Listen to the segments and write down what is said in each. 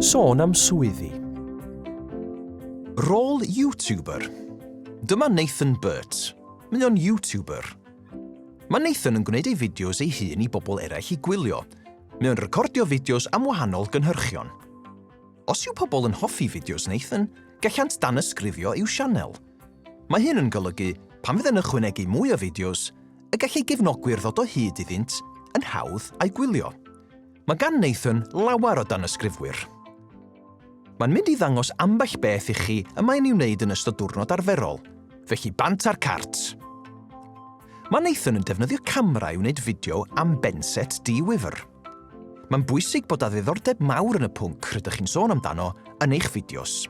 Sôn am swyddi. Rôl YouTuber. Dyma Nathan Burt. Mae o'n YouTuber. Mae Nathan yn gwneud ei fideos ei hun i bobl eraill i gwylio. Mae o'n recordio fideos am wahanol gynhyrchion. Os yw pobl yn hoffi fideos Nathan, gallant danysgrifio i'w sianel. Mae hyn yn golygu, pan fydd yn ychwanegu mwy o fideos, y gall ei gefnogwyr ddod o hyd iddynt yn hawdd a'i gwylio. Mae gan Nathan lawer o danysgrifwyr. Mae'n mynd i ddangos ambell beth i chi y mae'n ei wneud yn ystod diwrnod arferol, felly bant ar cart! Mae Nathan yn defnyddio camera i wneud fideo am Benset Dee Wifr. Mae'n bwysig bod â ddiddordeb mawr yn y pwnc rydych chi'n sôn amdano yn eich fideos.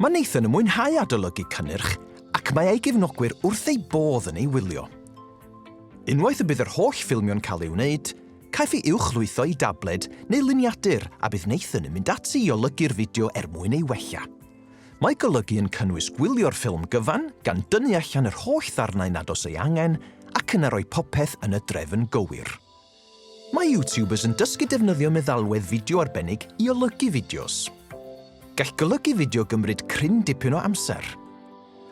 Mae Nathan yn mwynhau adolygu cynnyrch ac mae ei gefnogwyr wrth eu bodd yn ei wylio. Unwaith y bydd yr holl ffilmio'n cael ei wneud, caiff ei uwchlwytho i dabled neu luniadur a bydd Nathan yn mynd ati i olygu'r fideo er mwyn ei wella. Mae golygu yn cynnwys gwylio'r ffilm gyfan gan dynnu allan yr holl ddarnau nad oes ei angen ac yna rhoi popeth yn y drefn gywir. Mae YouTubers yn dysgu defnyddio meddalwedd fideo arbennig i olygu fideos. Gall golygu fideo gymryd cryn dipyn o amser.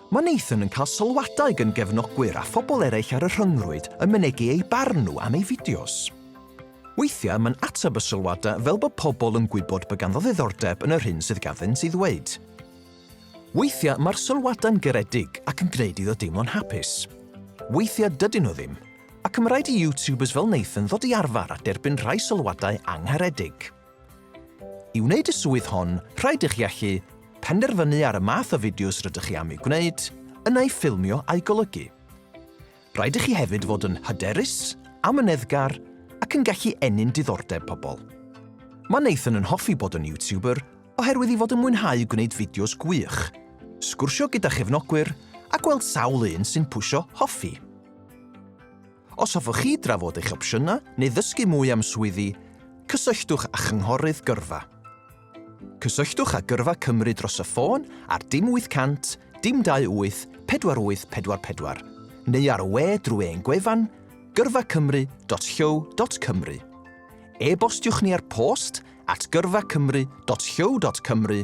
Mae Nathan yn cael sylwadau gan gefnogwyr a phobl eraill ar y rhyngrwyd yn mynegi eu barn nhw am ei fideos. Weithiau mae'n ateb y sylwadau fel bod pobl yn gwybod bod ganddo ddiddordeb yn yr hyn sydd ganddynt ei ddweud. Weithiau mae'r sylwadau'n garedig ac yn gwneud iddo deimlo'n hapus. Weithiau dydyn nhw ddim, Ac ma' raid i YouTubers fel Nathan ddod i arfar a derbyn rhai sylwadau angharedig. I wneud y swydd hon, rhaid i chi allu penderfynu ar y math o fideos rydych chi am eu gwneud, yna eu ffilmio a'u golygu. Rhaid i chi hefyd fod yn hyderus, amyneddgar ac yn gallu ennyn diddordeb pobl. Mae Nathan yn hoffi bod yn YouTuber oherwydd ei fod yn mwynhau gwneud fideos gwych, sgwrsio gyda chefnogwyr a gweld sawl un sy'n pwsio hoffi. Os hoffech chi drafod eich opsiynau neu ddysgu mwy am swyddi, cysylltwch â Chynghorydd Gyrfa. Cysylltwch â Gyrfa Cymru dros y ffôn ar dim 800 dim 28 4844 neu ar y we drwy ein gwefan gyrfacymru.llyw.cymru. E-bostiwch ni ar post at gyrfacymru.llyw.cymru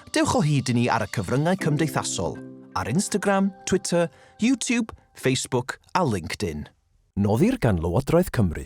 Dewch o hyd i ni ar y cyfryngau cymdeithasol, ar Instagram, Twitter, YouTube, Facebook a LinkedIn. Noddir gan Lywodraeth Cymru.